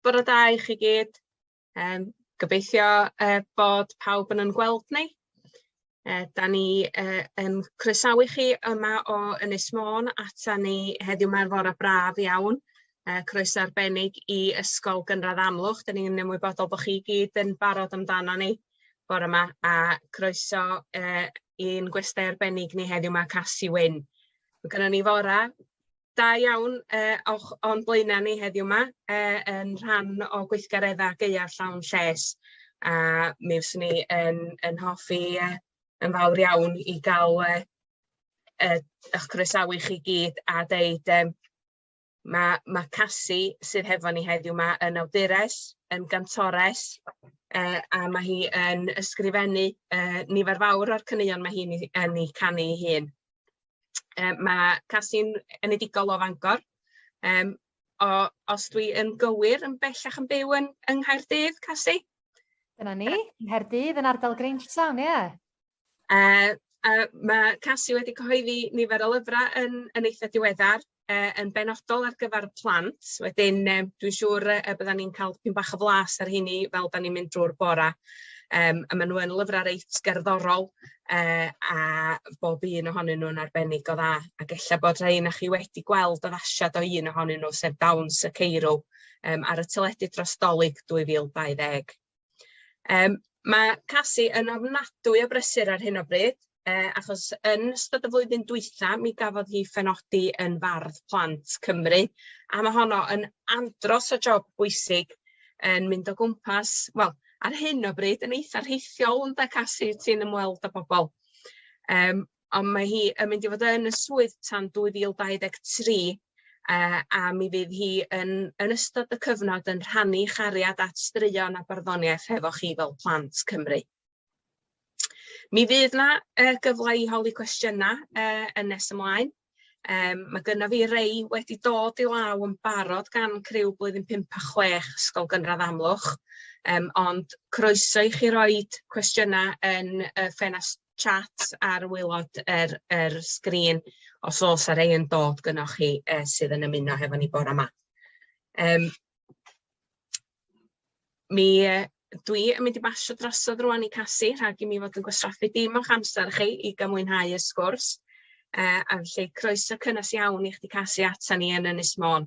Bore da i chi gyd. Yym gobeithio yy bod pawb yn 'yn gweld ni. Yy 'dan ni yy yn croesawu chi yma o Ynys Môn ata ni heddiw 'ma ar fore braf iawn. Yy croeso arbennig i Ysgol Gynradd Amlwch 'dan ni'n ymwybodol bo' chi gyd yn barod amdana ni. bore 'ma a croeso yy i'n gwestai arbennig ni heddiw 'ma Casi Wyn. Ma' gynno ni fora da iawn yy o'ch o'n blaena ni heddiw 'ma yy yn rhan o gweithgaredda gaea llawn lles a mi fyswn i yn yn hoffi yy yn fawr iawn i ga'l yy yy 'ych croesawu chi gyd a deud yym Mae ma' Cassie, sydd hefo ni heddiw 'ma, yn awdures, yn gantores, yy a ma' hi yn ysgrifennu yy nifer fawr o'r caneuon ma' hi'n 'u yn 'u canu 'i hun. Yy ma' Cassie'n enedigol o Fangor yym o os dwi yn gywir yn bellach yn byw yn yng Nghaerdydd, Cassie? Dyna ni, Nghaerdydd yn ardal Grange Town, ie. Yy a ma' Casi wedi cyhoeddi nifer o lyfra yn yn eitha diweddar yy yn benodol ar gyfar plant wedyn yym dwi siŵr yy y byddan ni'n ca'l pyn bach o flas ar rheini fel 'dan ni'n mynd drw'r bora yym a ma' n'w yn lyfra reit gerddorol yy a bob un ohonyn nw'n arbennig o dda ag ella bod rhei 'nach chi wedi gweld addasiad o un ohonyn nw sef Dawns y Ceirw yym ar y teledu dros Dolig dwy fil dau ddeg. Yym ma' Casi yn ofnadwy o brysur ar hyn o bryd yy achos yn ystod y flwyddyn dwytha mi gafodd hi phenodi yn fardd plant Cymru a ma' honno yn andros o job bwysig yn mynd o gwmpas wel ar hyn o bryd yn eitha rheithiol ynde Casi ti'n ymweld â pobol yym On' mae hi yn mynd i fod yn y swydd tan dwy fil dau ddeg tri yy a mi fydd hi yn yn ystod y cyfnod yn rhannu 'i chariad at straeon a barddoniaeth hefo chi fel plant Cymru. Mi fydd 'na yy gyfle i holi cwestiyna' yy yn nes ymlaen yym ma' gynno fi rei wedi dod i law yn barod gan criw blwyddyn pump a chwech Ysgol Gynradd Amlwch yym ond croeso i chi roid cwestiyna' yn y ffenast chat ar waelod yr yr sgrin os o's 'a rei yn dod gynnoch chi yy sydd yn ymuno hefo ni bora 'ma. Yym mi yy dwi yn mynd i basio drosodd rŵan i Casi rhag i mi fod yn gwastraffu dim o'ch amser chi i ga'l mwynhau y sgwrs yy a felly croeso cynnes iawn i chdi Casi atan ni yn Ynys Môn.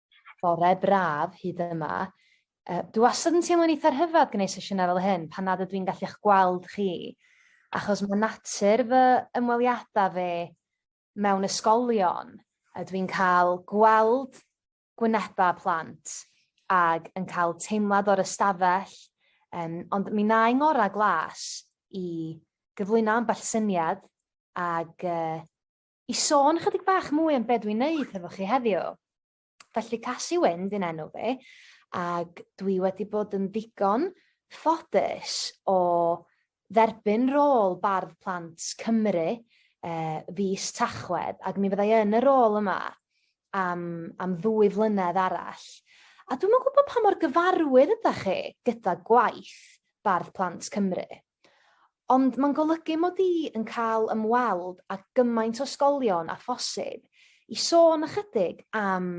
fore braf hyd yma. Uh, dwi wastad yn teimlo'n eitha rhyfedd gwneud sesiynau fel hyn pan nad ydw i'n gallu'ch gweld chi. Achos mae natur fy ymweliadau fe mewn ysgolion a dwi'n cael gweld gwynebau plant ag yn cael teimlad o'r ystafell, um, ond mi na i ngora glas i gyflwyno ambell syniad ag uh, I sôn chydig bach mwy am be' dwi'n neud hefo chi heddiw. Felly Casi Wyn 'di'n enw fi ag dwi wedi bod yn ddigon ffodus o dderbyn rôl bardd plant Cymru yy fis Tachwedd ag mi fyddai yn y rôl yma am am ddwy flynedd arall. A dwi'm yn gwybod pa mor gyfarwydd ydach chi gyda gwaith Bardd Plant Cymru? Ond mae'n golygu mod i yn cael ymweld â gymaint o ysgolion â phosib i sôn ychydig am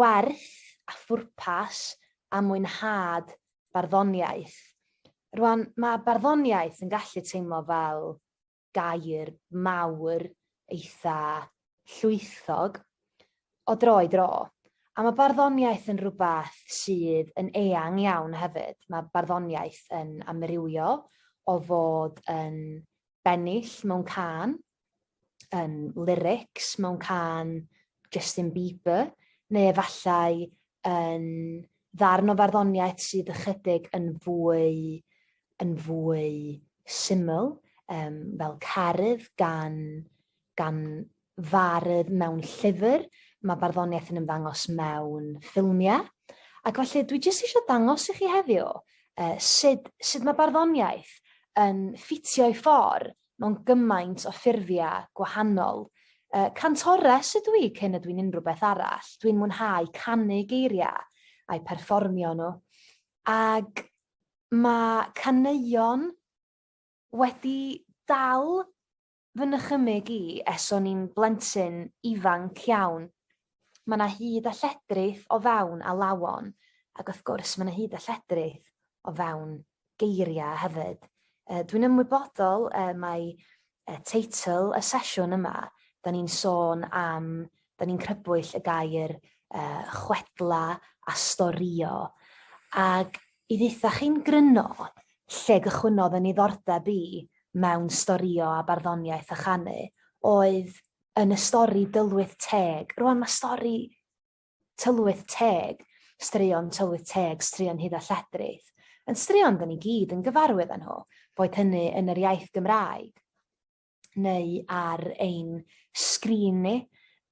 werth a phwrpas a mwynhad barddoniaeth. Rwan, mae barddoniaeth yn gallu teimlo fel gair mawr eitha llwythog o dro i dro. A mae barddoniaeth yn rhywbeth sydd yn eang iawn hefyd. Mae barddoniaeth yn amrywio o fod yn bennill mewn can, yn lyrics mewn can, Justin Bieber neu efallai yn ddarn o farddoniaeth sydd ychydig yn fwy yn fwy syml yym fel Carudd gan gan fardd mewn llyfr ma' barddoniaeth yn ymddangos mewn ffilmie ac felly dwi jyst isio dangos i chi heddiw yy sud sud ma' barddoniaeth yn ffitio i ffor mewn gymaint o ffurfia gwahanol. Yy cantores ydw i cyn ydw i'n unrhyw beth arall. Dwi'n mwynhau canu geiria a'u perfformio nhw. Ag mae caneuon wedi dal fy nychymyg i es o'n i'n blentyn ifanc iawn. ma' 'na hud a lledrith o fewn alawon ag wrth gwrs ma' 'na hud a lledrith o fewn geiria' hefyd. Yy dwi'n ymwybodol y mae y teitl y sesiwn yma 'dan ni'n sôn am 'dan ni'n crybwyll y gair yy chwedla a storio ag i dditha chi'n gryno lle gychwynnodd yn niddordeb i mewn storio a barddoniaeth a chanu oedd yn y stori Dylwyth Teg. Rwan mae stori Tylwyth Teg, straeon Tylwyth Teg, straeon Huda Lledrith, yn straeon dyn ni gyd yn gyfarwydd â nhw, boed hynny yn yr iaith Gymraeg neu ar ein sgrin ni.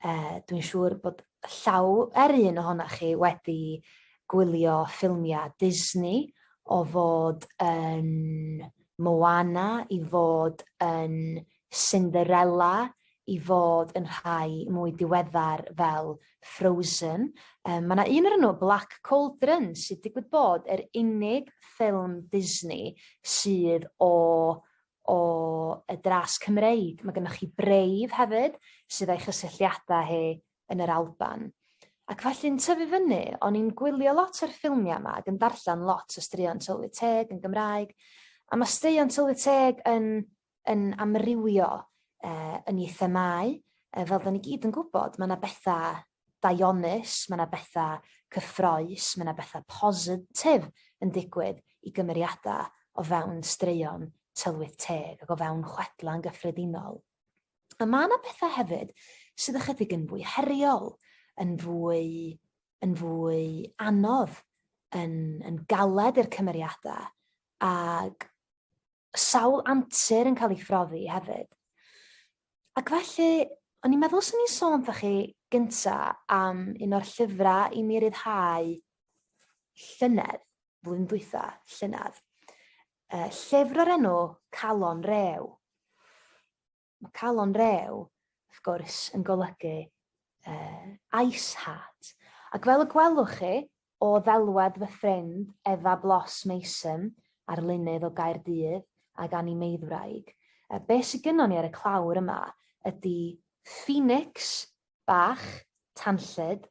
Uh, Dwi'n siŵr bod llaw er un ohonoch chi wedi gwylio ffilmiau Disney o fod yn Moana i fod yn Cinderella i fod yn rhai mwy diweddar fel Frozen. Um, mae yna un o'r nhw, Black Cauldron, sydd digwydd bod yr unig ffilm Disney sydd o o y dras Cymreig. Mae gennych chi Brave hefyd, sydd â'i chysylltiadau hi yn yr Alban. Ac felly'n tyfu fyny, o'n i'n gwylio lot o'r ffilmiau yma ac yn darllen lot o straeon tylwyth teg yn Gymraeg. A mae straeon tylwyth teg yn yn amrywio yy yn ei themâu yy fel 'dan ni gyd yn gwbod ma' 'na betha daionnus ma' 'na betha cyffrous ma' 'na betha positif yn digwydd i gymeriada o fewn straeon tylwyth teg ag o fewn chwedla yn gyffredinol. A ma' 'na betha hefyd sydd ychydig yn fwy heriol yn fwy yn fwy anodd yn yn galed i'r cymeriada ag sawl antur yn cael ei phrofi hefyd. Ac felly, o'n i'n meddwl swn i'n sôn wrthych chi gynta am un o'r llyfrau i mi ryddhau llynedd, flwyddyn dwytha, llynedd. Uh, llyfr o'r enw Calon Rew. Mae calon rew, wrth gwrs, yn golygu uh, ice heart. Ac fel y gwelwch chi, o ddelwedd fy ffrind Efa Blos Mason, arlunydd o Gaerdydd ag animeiddwraig, uh, be sy'n gynnon ni ar y clawr yma ydy Phoenix bach tanllyd,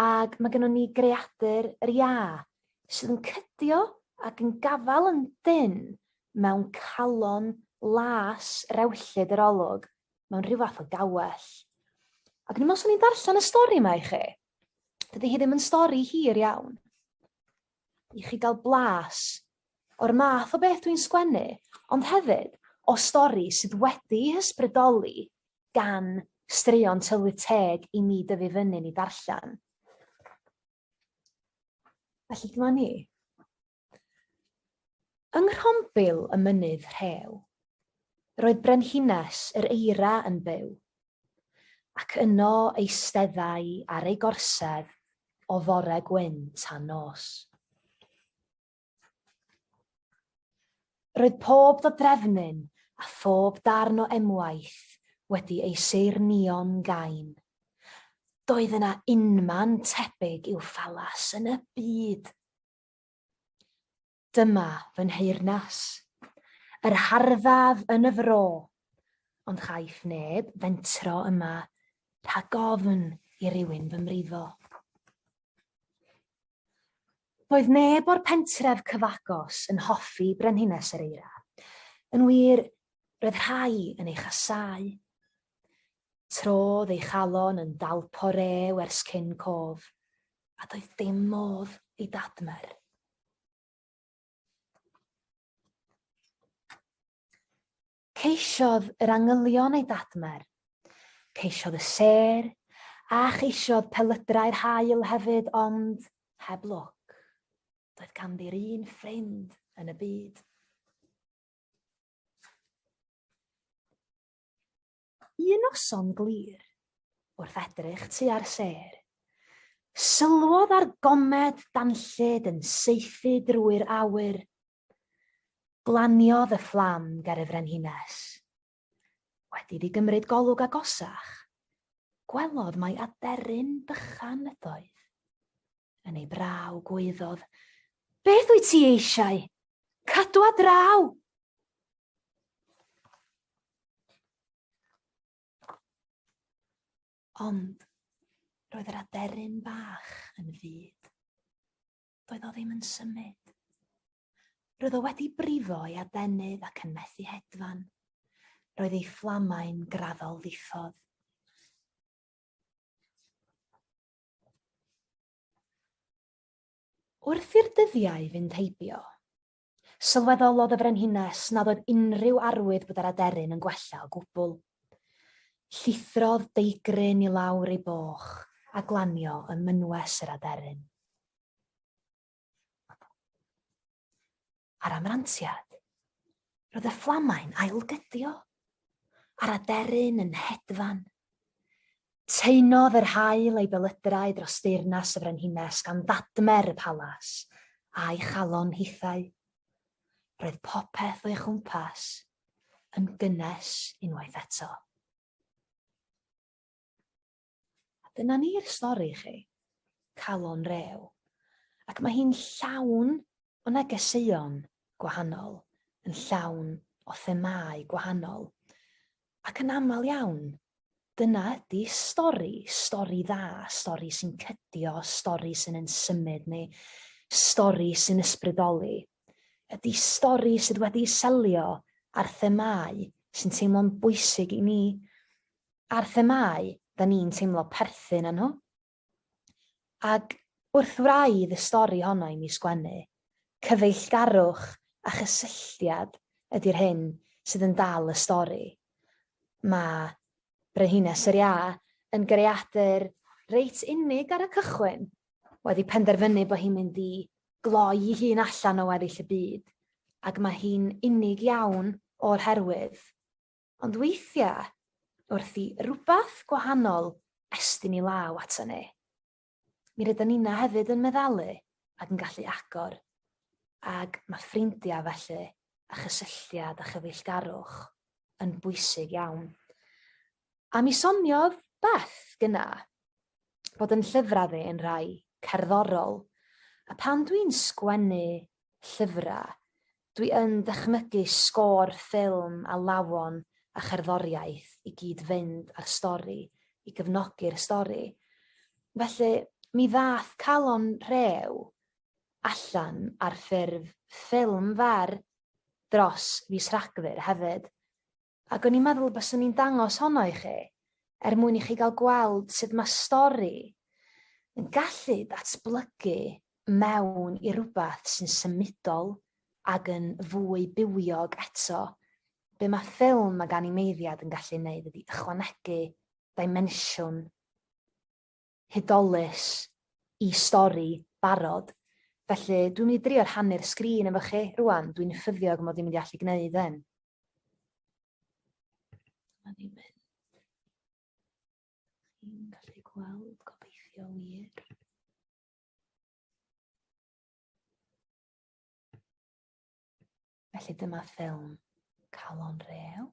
Ag ma' gynnon ni greadur yr Iâ sydd yn cydio ac yn gafal yn dynn mewn calon las rewllyd yr olwg mewn rhyw fath o gawell. Ac o'n i'n me'wl swn i'n darllen y stori 'ma i chi. Dydi hi ddim yn stori hir iawn. i chi gael blas o'r math o beth dwi'n sgwennu, ond hefyd o stori sydd wedi'i hysbrydoli gan straeon Tylwyth Teg i mi dyfu fyny'n i darllen. Felly dyma ni. Yng nghrombil y mynydd rhew, roedd brenhines yr eira yn byw, Ac yno eisteddai ar ei gorsedd o fore gwyn tan nos. Roedd pob dodrefnyn a phob darn o emwaith wedi ei seirnio'n gain. Doedd yna unman tebyg i'w phalas yn y byd. Dyma fy nheyrnas. Yr harddaf yn y fro, ond chaiff neb fentro yma rhag ofn i rywun fy mrifo. Doedd neb o'r pentref cyfagos yn hoffi Brenhines yr Eira. Yn wir, roedd rhai yn ei chasau. Trodd ei chalon yn dalpo rew ers cyn cof, a doedd dim modd ei dadmer. Ceisiodd yr angylion ei dadmer. Ceisiodd y sêr, a cheisiodd pelydrau'r haul hefyd, ond heb lwc. Doedd ganddi'r un ffrind yn y byd. Un noson glir, wrth edrych tua'r sêr, sylwodd ar gomed danllyd yn saethu drwy'r awyr. Glaniodd y fflam ger y frenhines. Wedi iddi gymryd golwg agosach, gwelodd mai aderyn bychan ydoedd. Yn ei braw gwaeddodd, Beth wyt ti eisiau? Cadw a draw! Ond roedd yr aderyn bach yn fyd. Doedd o ddim yn symud. Roedd o wedi brifo ei adenydd ac yn methu hedfan. Roedd ei fflamau'n graddol ddiffodd. Wrth i'r dyddiau fynd heibio, sylweddolodd y Frenhines nad oedd unrhyw arwydd bod yr aderyn yn gwella o gwbl. Llithrodd deigryn i lawr ei boch a glanio ym mynwes yr aderyn. Ar amrantiad, roedd y fflamau'n ailgydio a'r aderyn yn hedfan. Teinodd yr haul ei belydrau dros deyrnas y frenhines gan ddadmer y palas a'i chalon hithau. Roedd popeth o'i chwmpas yn gynnes unwaith eto. A dyna ni'r stori i chi. Calon rew. Ac mae hi'n llawn o negeseuon gwahanol, yn llawn o themâu gwahanol. Ac yn aml iawn, dyna ydy stori, stori dda, stori sy'n cydio, stori sy'n yn symud ni, stori sy'n ysbrydoli. Ydy stori sydd wedi selio ar themâu sy'n teimlo'n bwysig i ni. a'r themâu 'da ni'n teimlo perthyn â nhw. Ac wrth wraidd y stori honno i mi sgwennu, cyfeillgarwch a chysylltiad ydi'r hyn sydd yn dal y stori. Mae Brenhines yr Iâ yn greadur reit unig ar y cychwyn, wedi penderfynu bod hi'n mynd i gloi ei hun allan o weddill y byd, ac mae hi'n unig iawn o'r herwydd. Ond weithiau, wrth i rywbeth gwahanol estyn i law aton ni, mi rydan nina hefyd yn meddalu ac yn gallu agor, ac mae ffrindiau felly a chysylltiad a chyfeillgarwch yn bwysig iawn. A mi soniodd Beth gyna bod yn llyfrau fi yn rhai cerddorol, a pan dwi'n sgwennu llyfrau, Dwi yn dychmygu sgôr ffilm a lawon a cherddoriaeth i gyd fynd â'r stori, i gefnogi'r stori. Felly, mi ddaeth Calon Rhew allan ar ffurf ffilm fer dros fis Rhagfyr hefyd. Ac o'n i'n meddwl y byswn i'n dangos honno i chi, er mwyn i chi gael gweld sut mae stori yn gallu datblygu mewn i rywbeth sy'n symudol ac yn fwy bywiog eto. Be mae ffilm ac animeiddiad yn gallu neud ydi ychwanegu dimensiwn hudolus i stori barod, felly dwi'n mynd i drio rhannu'r sgrin efo chi rwan, dwi'n ffyddiog mod i'n mynd i allu gwneud hyn. Dyma ni'n mynd. Chi'n gallu gweld gobeithio wir. Felly dyma ffilm Calon Reel.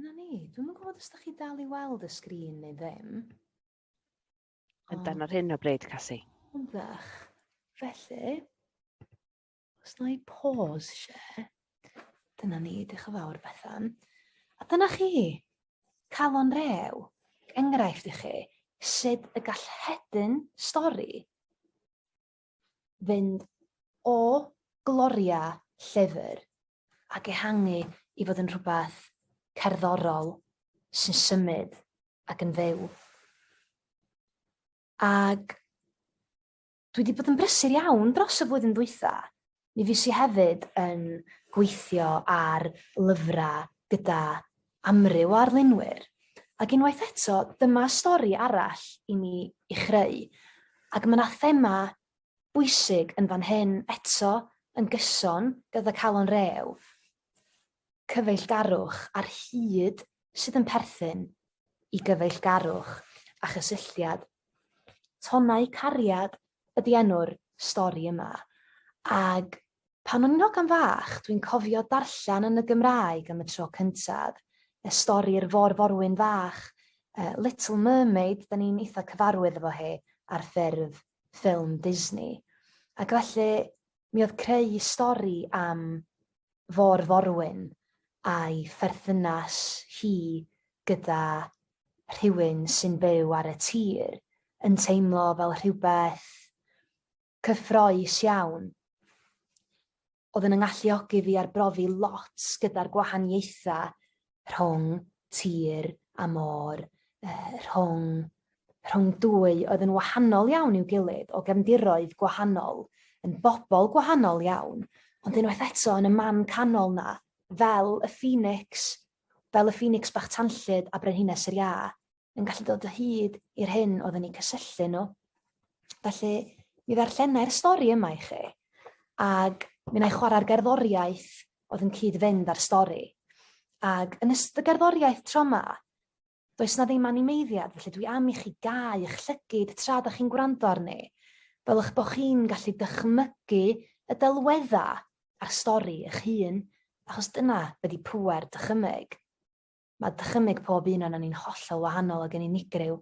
Dyna ni. Dwi'm yn gwbod os dach chi dal i weld y sgrin neu ddim. Yn dan ar hyn o bryd, Cassie. Yn ddech. Felly, os na i pause share, dyna ni, diolch yn fawr Bethan. A dyna chi, calon rew, enghraifft i chi, sut y gall hedyn stori fynd o gloria llyfr ac ehangu i fod yn rhywbeth cerddorol sy'n symud ac yn fyw. Ac dwi wedi bod yn brysur iawn dros y flwyddyn ddwytha, Mi fues i hefyd yn gweithio ar lyfrau gyda amryw o arlunwyr, ac unwaith eto, dyma stori arall i mi i chreu, ac mae 'na thema bwysig yn fan hyn, eto yn gyson gyda Calon Rew. cyfeillgarwch ar hyd sydd yn perthyn i gyfeillgarwch a chysylltiad. Tonnau Cariad ydi enw'r stori yma, ag pan o'n i'n hogan fach dwi'n cofio darllen yn y Gymraeg am y tro cyntaf, y stori'r Fôr Forwyn Fach, yy Little Mermaid, da ni'n eitha cyfarwydd efo hi ar ffurf ffilm Disney. Ac felly mi oedd creu stori am fo'r forwyn a'i pherthynas hi gyda rhywun sy'n byw ar y tir yn teimlo fel rhywbeth cyffrous iawn. Oedd yn 'y ngalluogi fi arbrofi lot gyda'r gwahaniaethau rhwng tir a môr, rhwng, rhwng dwy oedd yn wahanol iawn i'w gilydd, o gefndiroedd gwahanol, yn bobl gwahanol iawn, ond unwaith eto yn y man canol 'na, fel y ffinics, fel y ffinics bach tanllyd a brenhines yr iâ. yn gallu dod o hyd i'r hyn oedd yn eu cysylltu nhw. Felly, mi ddarllenai'r stori yma i chi, ac mi wna i chwarae'r gerddoriaeth oedd yn cyd-fynd â'r stori. Ac yn ystod y gerddoriaeth tro yma, does na ddim animeiddiad, felly dwi am i chi gau eich llygyd tra da chi'n gwrando arni, fel eich bod chi'n gallu dychmygu y delwedda a'r stori eich hun, achos dyna ydy pwer dychymyg. Mae dychymyg pob un o'n ni'n hollol wahanol ac yn unigryw,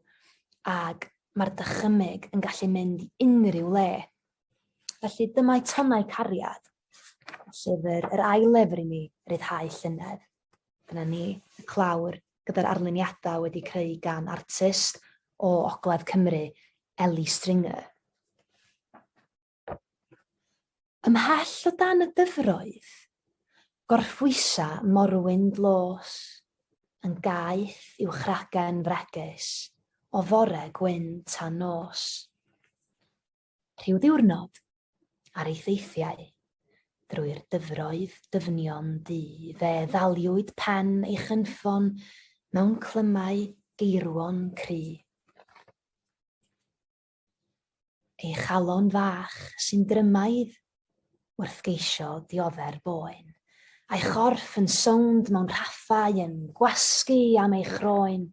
ac mae'r dychymyg yn gallu mynd i unrhyw le. Felly dyma eitemau cariad, llyfr, yr ail lyfr i mi ryddhau llynedd. Dyna ni, y clawr, gyda'r arluniadau wedi creu gan artist o Ogledd Cymru, Ellie Stringer. Ymhell o dan y dyfroedd, gorffwysa morwyn dlos, yn gaeth i'w chragen fregus o fore gwyn tan nos. Rhyw ddiwrnod, ar ei theithiau, drwy'r dyfroedd dyfnion du, fe ddaliwyd pen ei chynffon mewn clymau geirwon cry. Ei chalon fach sy'n drymaidd wrth geisio dioddef boen, a'i chorff yn sownd mewn rhaffau yn gwasgu am ei chroen.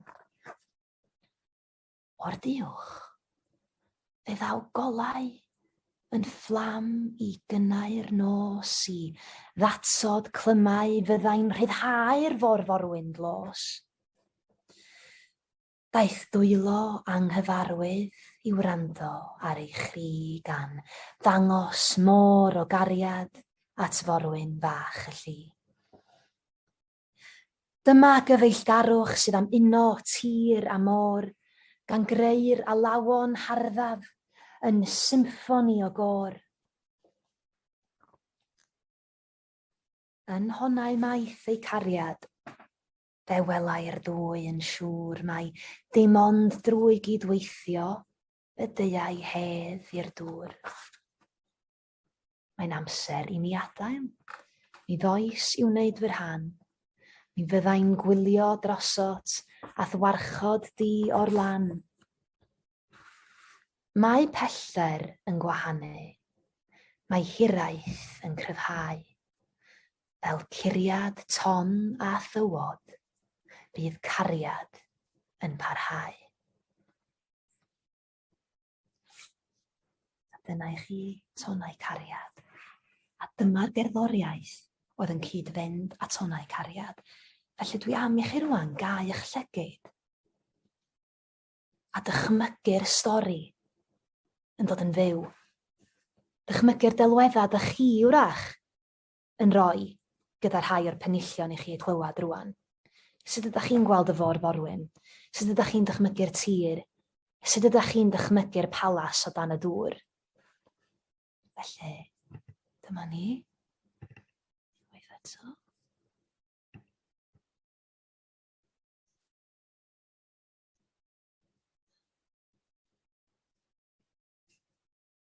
O'r duwch, fe ddaw golau yn fflam i gynnau'r nos, i ddatsod clymau fyddai'n rhyddhau'r forforwyn dlos. Daeth dwylo anghyfarwydd i wrando ar ei chri gan ddangos môr o gariad at forwyn fach y lli. Dyma gyfeillgarwch sydd am uno tir a môr, gan greu'r alawon harddaf yn symffoni o gôr. Yn honnau maeth ei cariad. Fe welai'r ddwy yn siŵr mai dim ond drwy gydweithio y deuai hedd i'r dŵr. Mae'n amser i mi adael. Mi ddoes i wneud fy rhan. Mi fyddai'n gwylio drosot a'th warchod di o'r lan. Mae pellter yn gwahanu. Mae hiraeth yn cryfhau. fel curiad ton a thywod, bydd cariad yn parhau. A dyna i chi tonau cariad. A dyma'r gerddoriaeth oedd yn cyd-fynd â tonau cariad. Felly dwi am i chi rwan gau eich llygyd a dychmygu'r stori yn dod yn fyw. Dychmygu'r delweddau dych chi wrach yn rhoi gyda rhai o'r penillion i chi eu clywed rwan. Sut ydych chi'n gweld y fôr forwyn? Sut ydych chi'n dychmygu'r tir? Sut ydych chi'n dychmygu'r palas o dan y dŵr? Felly, dyma ni. Waith eto.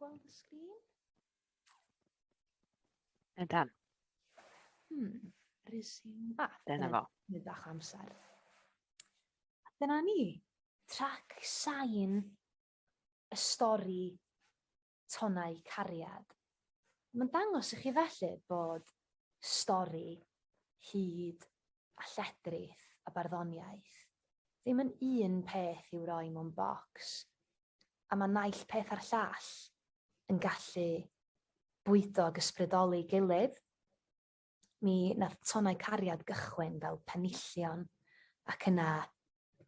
gweld y sgrin? Ydan. Hmm, resume bath. Dyna fo. Nid bach amser. Dyna ni. Trac sain y stori tonau cariad. Mae'n dangos i chi felly bod stori, hud a lledrith a barddoniaeth ddim yn un peth i'w roi mewn bocs, a mae naill peth a'r llall yn gallu bwydo ac ysbrydoli'i gilydd. mi nath tonnau cariad gychwyn fel penillion ac yna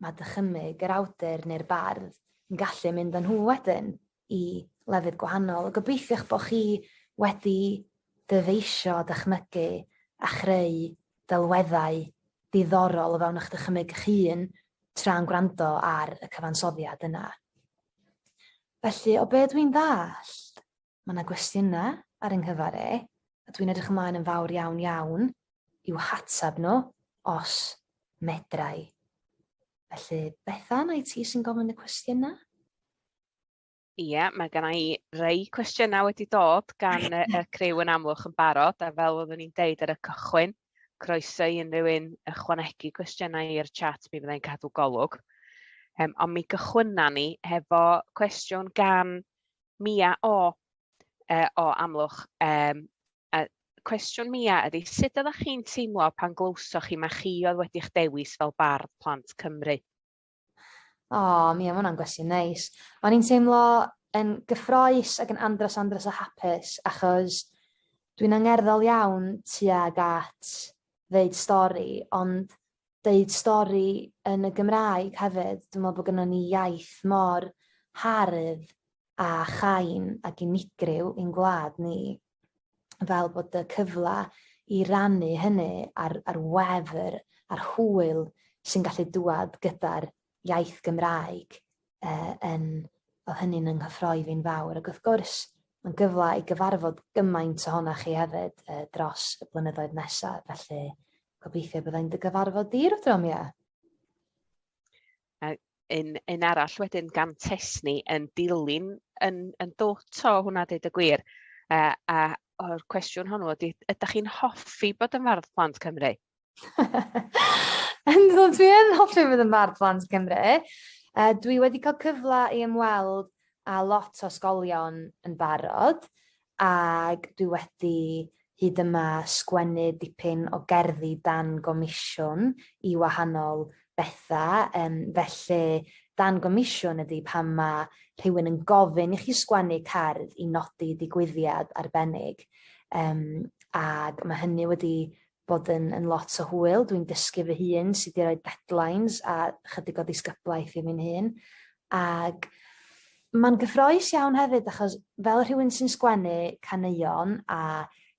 ma' dychymyg yr awdur ne'r bardd yn gallu mynd â nhw wedyn i lefydd gwahanol. Gobeithiwch bo' chi wedi dyfeisio dychmygu a chreu delweddau diddorol o fewn eich dychymyg 'ych hun tra'n gwrando ar y cyfansoddiad yna. Felly o be' dwi'n ddallt, Ma' 'na gwestiyna ar 'y nghyfar i, a dwi'n edrych ymlaen yn fawr iawn iawn i'w hatab nhw, os medra i. Felly, Bethan, ai ti sy'n gofyn y cwestiyna? Ie, mae gynna i rei cwestiynau wedi dod gan y, y criw yn amlwch yn barod, a fel oeddwn i'n deud ar y cychwyn, croeso i unrhyw un ychwanegu cwestiynau i'r chat, mi fyddai'n cadw golwg. Um, ond mi gychwynna ni hefo cwestiwn gan Mia O yy o Amlwch yym yy cwestiwn Mia ydi sut oddach chi'n teimlo pan glywsoch chi ma' chi oedd wedi'ch dewis fel bardd plant Cymru? O Mia ma' wnna'n gwestiwn neis. O'n i'n teimlo yn gyffroes ac yn andros andros o hapus achos dwi'n angerddol iawn tuag at ddeud stori ond deud stori yn y Gymraeg hefyd. Dwi'n meddwl bod gynnon ni iaith mor hardd a chain ac unigryw i'n gwlad ni, fel bod y cyfle i rannu hynny a'r, ar wefr, a'r hwyl sy'n gallu dŵad gyda'r iaith Gymraeg uh, yn, oedd hynny'n yng nghyffroi fi'n fawr. Ac wrth gwrs, mae'n gyfle i gyfarfod gymaint ohonoch chi hefyd uh, dros y blynyddoedd nesaf, felly Gobeithio byddai'n dy gyfarfod di rhyw drom, ie. A un, un arall wedyn gan Tesni yn dilyn yn, yn dwt o hwnna dweud y gwir. A, a o'r cwestiwn hwnnw ydy, ydych chi'n hoffi bod yn fardd plant Cymru? Yn dod, dwi yn hoffi bod yn fardd plant Cymru. Uh, dwi wedi cael cyfle i ymweld a lot o sgolion yn barod. Ac dwi wedi hyd yma sgwennu dipyn o gerddi dan gomisiwn i wahanol betha yym felly dan gomisiwn ydi pan ma' rhywun yn gofyn i chi sgwennu cerdd i nodi digwyddiad arbennig yym ag ma' hynny wedi bod yn yn lot o hwyl, dwi'n dysgu fy hun sut i roi deadlines a chydig o ddisgyblaeth i fi'n hun, ag mae'n gyffroes iawn hefyd achos fel rhywun sy'n sgwennu caneuon a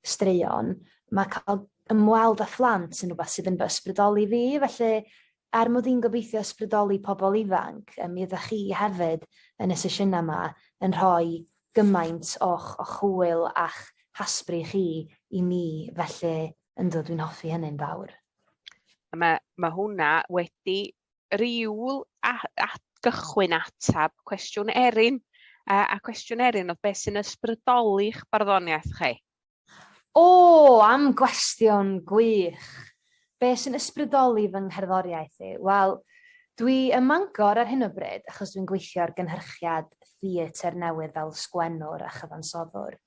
straeon, mae cael ymweld â phlant yn rhywbeth sydd yn fy ysbrydoli fi, felly Er mod i'n gobeithio ysbrydoli pobl ifanc, mi ydach chi hefyd yn y sesiynau yma yn rhoi gymaint o'ch hwyl a'ch hasbri chi i mi, felly yndw, dwi'n hoffi hynny'n fawr. Mae, mae hwnna wedi rhyw gychwyn atab cwestiwn Erin, a, a cwestiwn Erin oedd beth sy'n ysbrydoli'ch barddoniaeth chi? O! Am gwestiwn gwych! Be' sy'n ysbrydoli fy ngherddoriaeth i? Wel, dwi ym Mangor ar hyn o bryd achos dwi'n gweithio ar gynhyrchiad theatr newydd fel sgwennwr a chyfansoddwr,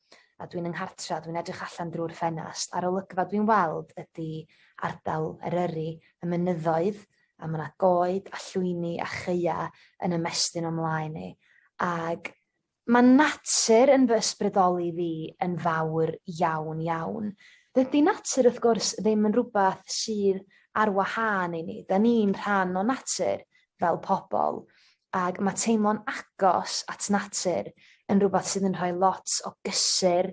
a dwi'n yng nghartra, dwi'n edrych allan drwy'r ffenast a'r olygfa dwi'n weld ydi ardal Eryri, y mynyddoedd, a ma' 'na goed a llwyni a chaea yn ymestyn o'm mlaen i, ag Mae natur yn fy ysbrydoli fi yn fawr iawn, iawn. Dydy natur wrth gwrs ddim yn rhywbeth sydd ar wahân i ni, 'da ni'n rhan o natur fel pobl ac mae teimlo'n agos at natur yn rhywbeth sydd yn rhoi lot o gysur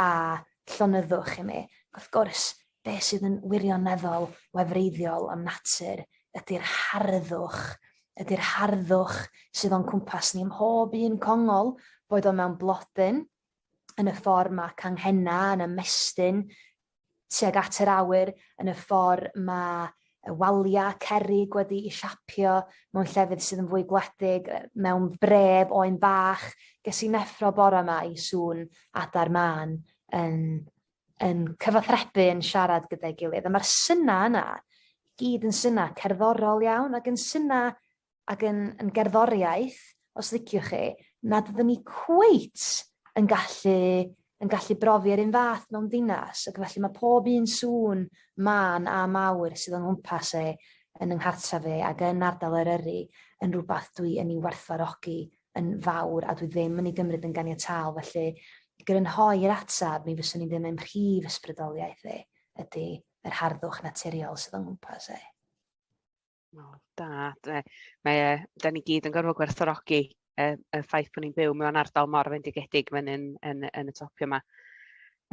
a llonyddwch i mi. Wrth gwrs, be' sydd yn wirioneddol wefreiddiol am natur ydi'r harddwch, ydi'r harddwch sydd o'n cwmpas ni ym mhob un congol, boed o mewn blodyn, yn y ffor ma' canghenna yn ymestyn tuag at yr awyr yn y ffor' ma' y walia', cerrig wedi'i siapio mewn llefydd sydd yn fwy gwledig yy mewn brêf oen bach. Ges i'n effro bore 'ma i sŵn adar mân yn yn cyfathrebu yn siarad gyda'i gilydd a ma'r synna' yna gyd yn synna' cerddorol iawn ag yn synna' ag yn yn gerddoriaeth os liciwch chi nad ydyn ni cweit yn gallu yn gallu brofi yr un fath mewn dinas ac felly mae pob un sŵn mân a mawr sydd o'n nghwmpas e yn yng nghartref i ac yn ardal Eryri yn rhywbeth dwi yn ei werthfawrogi yn fawr a dwi ddim yn ei gymryd yn ganiataol felly i grynhoi'r ateb mi fyswn i'n dweud mae'n prif ysbrydoliaeth i ydy yr harddwch naturiol sydd o'n nghwmpas e. O, da. Mae e... mae e... dan ni gyd yn gorfod gwerthfawrogi y y ffaith bod ni'n byw mewn ardal mor fendigedig fan hyn yn yn y topio 'ma.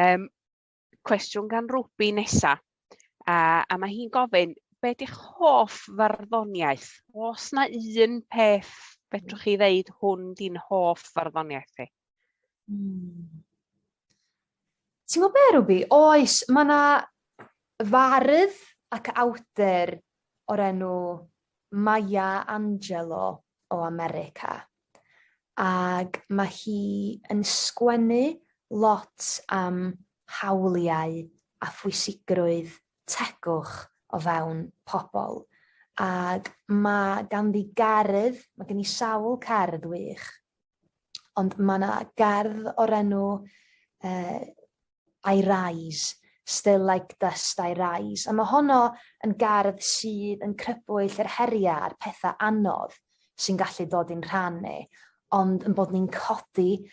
Yym cwestiwn gan Rwbi nesa a a ma' hi'n gofyn be' 'di'ch hoff farddoniaeth? O's 'na un peth fedrwch chi ddeud hwn 'di'n hoff farddoniaeth chi? Hmm. Ti'n gwybod be' Ruby? Oes, ma' 'na fardd ac awdur o'r enw Maya Angelou o America ag ma' hi yn sgwennu lot am hawliau a phwysigrwydd tegwch o fewn pobol ag ma' ganddi gerdd ma' gen 'i sawl cerdd wych. Ond mae yna gerdd o'r enw uh, I Rise, Still Like Dust I Rise. A mae honno yn gerdd sydd yn crybwyll yr heriau a'r pethau anodd sy'n gallu dod i'n rhan ni. Ond yn bod ni'n codi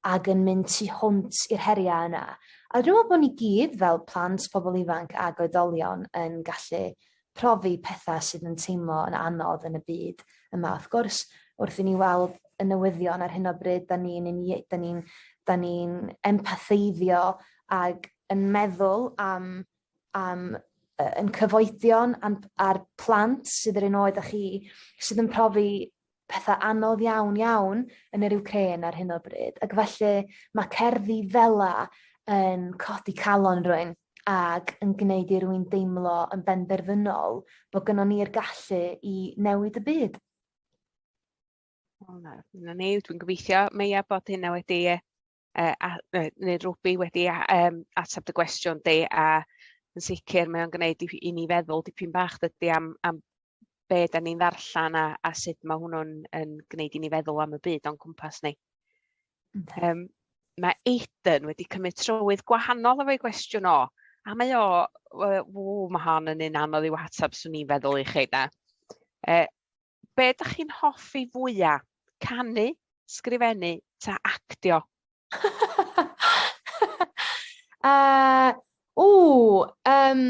ac yn mynd tu hwnt i'r heriau yna. A dwi'n meddwl bod ni gyd fel plant, pobl ifanc ac oedolion yn gallu profi pethau sydd yn teimlo yn anodd yn y byd yma. Wrth gwrs, wrth i ni weld y newyddion ar hyn o bryd, da ni'n ni, da ni, da ni empatheiddio ag yn meddwl am, am yn cyfoedion a'r plant sydd yr un oed â chi, sydd yn profi petha anodd iawn iawn yn yr Wcrên ar hyn o bryd ac felly ma' cerddi fela yn codi calon rywun ag yn gneud i rywun deimlo yn benderfynol bo' gynnon ni'r gallu i newid y byd. O na, na ni, dwi'n gobeithio, Meia, bod hynna wedi e, uh, a, neu Ruby wedi um, ateb dy gwestiwn di a yn sicr mae o'n gwneud i, i ni feddwl dipyn bach dydy am, am be da ni'n ddarllen a, a sut mae hwnnw'n yn gwneud i ni feddwl am y byd o'n cwmpas ni. Um, mae Aiden wedi cymryd trywydd gwahanol efo'i gwestiwn o, a mae o, ww, mae hon yn un anodd i'w hateb swn i'n feddwl i chi da. Uh, be ydych chi'n hoffi fwya? Canu, sgrifennu, ta actio? uh, o, um,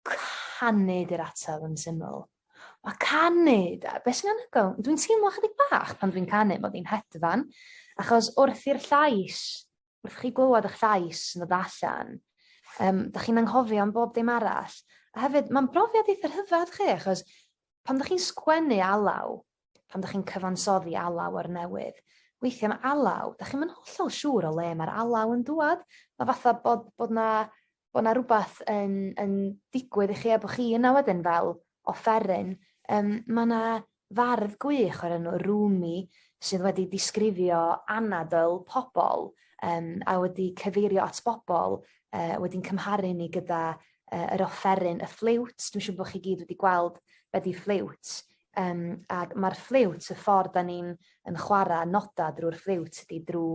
canu di'r ateb yn syml. Mae canu, beth sy'n anhygoel? Dwi'n teimlo chydig bach pan dwi'n canu, mae fi'n hedfan, achos wrth i'r llais wrth chi glywed 'ych llais yn dod allan yym 'dach chi'n anghofio am bob dim arall. A hefyd ma'n brofiad eitha rhyfadd chi achos pan 'dach chi'n sgwennu alaw pan 'dach chi'n cyfansoddi alaw o'r newydd weithia' ma' alaw 'dach chi'm yn hollol siŵr o le ma'r alaw yn dŵad ma' fatha bod bod 'na bo' 'na rwbath yn yn digwydd i chi a bo' chi yna wedyn fel offeryn yym ma' 'na fardd gwych o'r enw Rumi sydd wedi disgrifio anadl pobol yym a wedi cyfeirio at bobol yy wedyn cymharu ni gyda yy yr offeryn y ffliwt dwi siŵr bo' chi gyd wedi gweld be' 'di ffliwt Yym ag ma'r ffliwt y ffordd 'dan ni'n yn chwara noda drw'r ffliwt ydi drw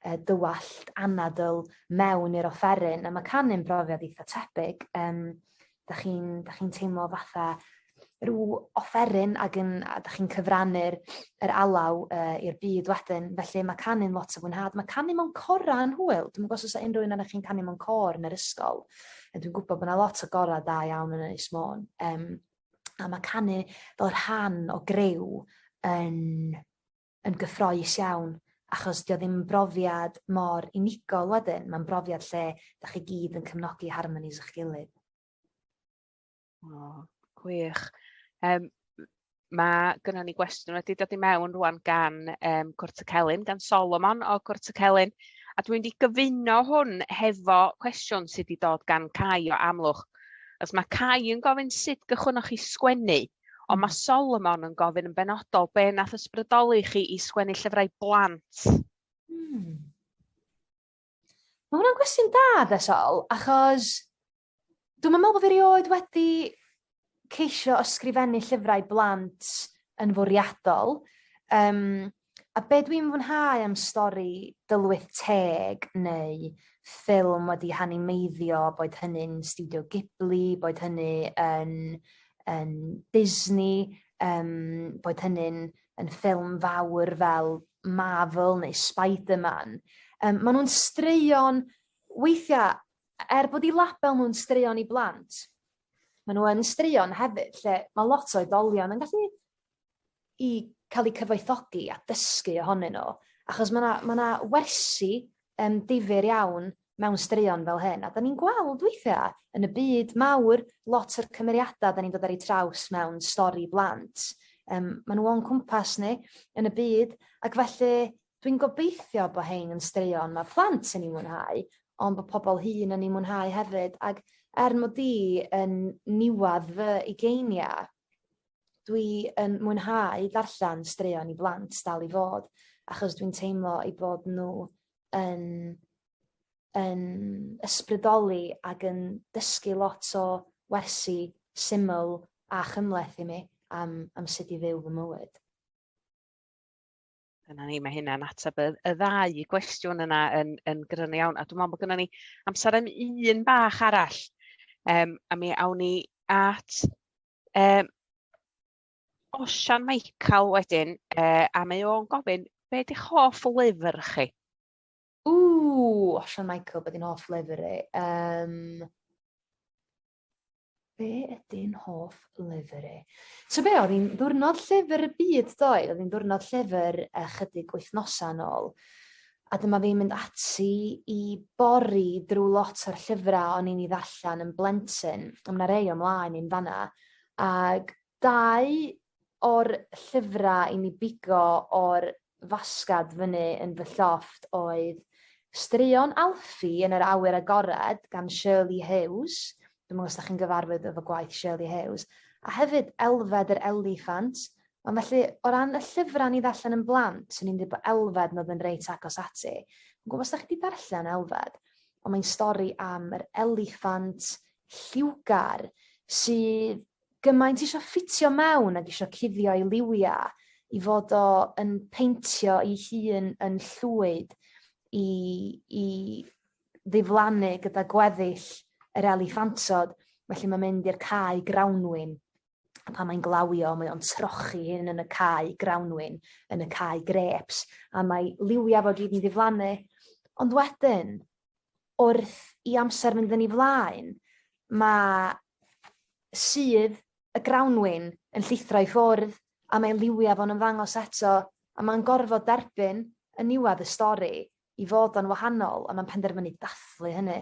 yy dy wallt anadl mewn i'r offeryn a ma' canu'n brofiad eitha tebyg yym 'dach chi'n 'dach chi'n teimlo fatha rw offeryn ag yn a 'dach chi'n cyfrannu'r yr alaw yy i'r byd wedyn felly ma' canu'n lot o fwynhad ma' canu mewn cora' yn hwyl dwi'm yn g'o' os o's 'a unryw un onoch chi'n canu mewn côr yn yr ysgol yy dwi'n gwbod bo' 'na lot o gora' da iawn yn Ynys Môn yym a mae canu fel rhan o greu yn, yn gyffroes iawn achos dio ddim yn brofiad mor unigol wedyn, mae'n brofiad lle da chi gyd yn cymnogi harmonies eich gilydd. Oh, gwych. Um, mae gyda ni gwestiwn wedi dod i mewn rwan gan um, Cwrt y Celyn, gan Solomon o Cwrt y Celyn, a dwi'n mynd i gyfuno hwn hefo cwestiwn sydd wedi dod gan Cai o Amlwch. Achos mae Cai yn gofyn sut gychwynnoch chi sgwennu, ond mae Solomon yn gofyn yn benodol be nath ysbrydoli chi i sgwennu llyfrau blant. Hmm. Mae hwnna'n gwestiwn da, de Sol, achos dwi'n meddwl bod fi rioed wedi ceisio ysgrifennu llyfrau blant yn fwriadol. Um, A be' dwi'n fwynhau am stori Dylwyth Teg neu ffilm wedi hanimeiddio boed hynny'n stiwdio Ghibli boed hynny yn yn Disney yym boed hynny'n yn ffilm fawr fel Marvel neu Spider-Man yym ma' nw'n straeon weithia' er bod 'u label nw'n straeon i blant ma' n'w yn straeon hefyd lle ma' lot o oedolion yn gallu i cael eu cyfoethogi a dysgu ohonyn nhw. Achos mae yna ma wersi um, difyr iawn mewn straeon fel hyn. A da ni'n gweld weithiau yn y byd mawr lot o'r cymeriadau da ni'n dod ar eu traws mewn stori blant. Um, maen nhw o'n cwmpas ni yn y byd ac felly dwi'n gobeithio bod hein yn straeon mae plant yn ei mwynhau ond bod pobl hun yn ei mwynhau hefyd ac er mod i yn niwad fy ugeiniau dwi yn mwynhau darllan straeon i blant dal i fod achos dwi'n teimlo ei bod n'w yn yn ysbrydoli ag yn dysgu lot o wersi syml a chymhleth i mi am am sut i fyw fy mywyd. Dyna ni, mae hynna'n ateb y y ddau gwestiwn yna yn yn gryno iawn, a dwi'n meddwl bod gynnon ni amser am un bach arall yym a mi awn ni at yym Osian Michael wedyn yy a mae o'n gofyn be' 'di'ch hoff lyfr chi? Ww Osian Michael be' 'di'n hoff lyfr i? Yym. Be ydy'n hoff lyfr i? So be, oedd hi'n ddwrnod llyfr y byd ddoe, oedd hi'n ddwrnod llyfr ychydig wythnosau yn ôl. A dyma fi'n mynd ati i bori drwy lot o'r llyfrau o'n i'n ei ddarllen yn blentyn, ond mae rei o'm mlaen i'n fanna. Ac dau o'r llyfra i mi bigo o'r fasgad fyny yn fy llofft oedd Straeon Alfie yn yr Awyr Agored gan Shirley Hughes dwi'm yn gwbo os 'dach chi'n gyfarwydd efo gwaith Shirley Hughes a hefyd Elfed yr Eliffant ond felly o ran y llyfra o'n i ddarllen yn blant swn i'n deud bo' Elfed 'n o'dd yn reit agos ati. Yn gwbo os 'dach chi 'di darllen Elfed on' mae'n stori am yr eliffant lliwgar sydd gymaint isio ffitio mewn ag isio cuddio ei liwia i fod o yn peintio 'i hun yn llwyd i i ddiflannu gyda gweddill yr eliffantod felly mae'n mynd i'r cae grawnwin a pan mae'n glawio mae o'n trochi hyn yn y cae grawnwin yn y cae grêps a mae liwia fo gyd yn diflannu ond wedyn wrth i amser fynd yn ei flaen, mae sudd y grawnwin yn llithro i ffwrdd a mae liwiau fo'n ymddangos eto a mae'n gorfod derbyn yn niwedd y stori i fod o'n wahanol a mae'n penderfynu dathlu hynny.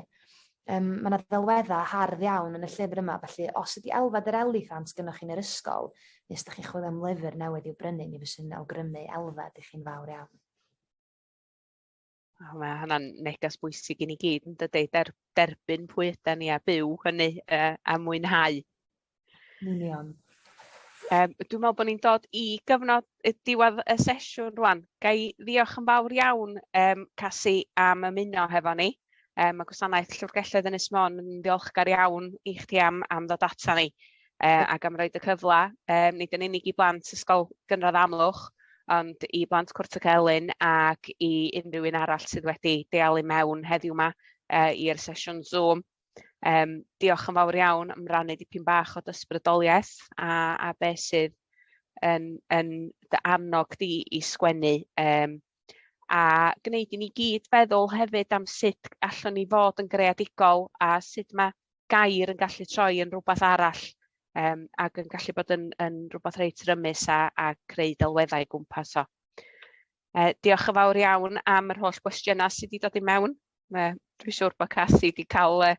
Um, mae yna ddelweddau hardd iawn yn y llyfr yma, felly os ydy Elfed yr Eliffant gynnwch chi'n yr ysgol, neu os ydych chi'n chwilio am lyfr newydd i'w brynu, mi fyswn awgrymu Elfed i chi'n fawr iawn. O, mae hwnna'n neges bwysig i ni gyd, yn dydi? Der, derbyn pwy yda ni a byw hynny uh, a mwynhau. Union. Um, dwi'n meddwl bod ni'n dod i gyfnod y diwedd y sesiwn rwan. Gai ddiolch yn fawr iawn um, Casi am ymuno hefo ni. Um, mae gwasanaeth Llyfrgelloedd yn Ysmon yn ddiolchgar iawn i chdi am, am ddod ata ni. uh, ac am roed y cyfle, um, nid yn unig i blant Ysgol Gynradd Amlwch, ond i blant Cwrt y Celyn ac i unrhyw un arall sydd wedi dealu mewn heddiw yma uh, i'r sesiwn Zoom. Um, diolch yn fawr iawn am rannu dipyn bach o dysbrydoliaeth a, a beth sydd yn, yn dy annog di i sgwennu. Um, a gwneud i ni gyd feddwl hefyd am sut allwn ni fod yn greadigol a sut mae gair yn gallu troi yn rhywbeth arall um, ac yn gallu bod yn, yn rhywbeth reit rymus a, a creu delweddau gwmpas o. Uh, diolch yn fawr iawn am yr holl gwestiynau sydd wedi dod i mewn. Uh, Dwi'n siŵr bod Cathy wedi cael uh,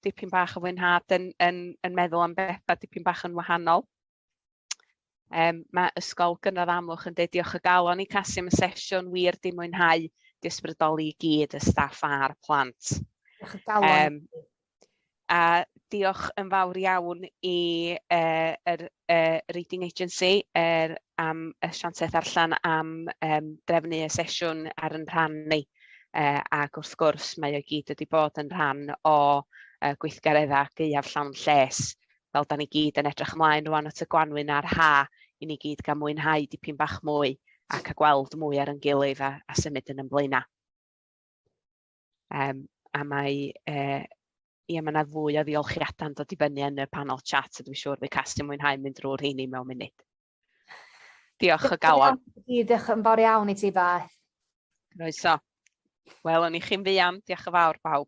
dipyn bach o fwynhad yn, yn, yn meddwl am bethau dipyn bach yn wahanol. Um, mae Ysgol Gynradd Amlwch yn dweud diolch o galon i Casi am y sesiwn wir di mwynhau disbrydoli i gyd y staff a'r plant. Diolch o galon. Um, a diolch yn fawr iawn i uh, er, uh, Reading Agency er, am y siantaeth allan am um, drefnu y sesiwn ar yn rhan ni. Uh, ac wrth gwrs mae o gyd wedi bod yn rhan o uh, gweithgareddau gaeaf llawn lles fel dan ni gyd yn edrych ymlaen rŵan at y gwanwyn a'r ha, i ni gyd gael mwynhau dipyn bach mwy a cael gweld mwy ar ein gilydd a, a symud yn ymlaenau. Um, a mae uh, Ie, mae yna fwy o ddiolchiadau'n dod i fyny yn y panel chat, a dwi'n siŵr fi cast yn mwynhau mynd drwy'r rheini mewn munud. Diolch o galon. Diolch yn fawr iawn i ti, Beth. Roeso. Wel, o'n i chi'n fuan. Diolch yn fawr, bawb.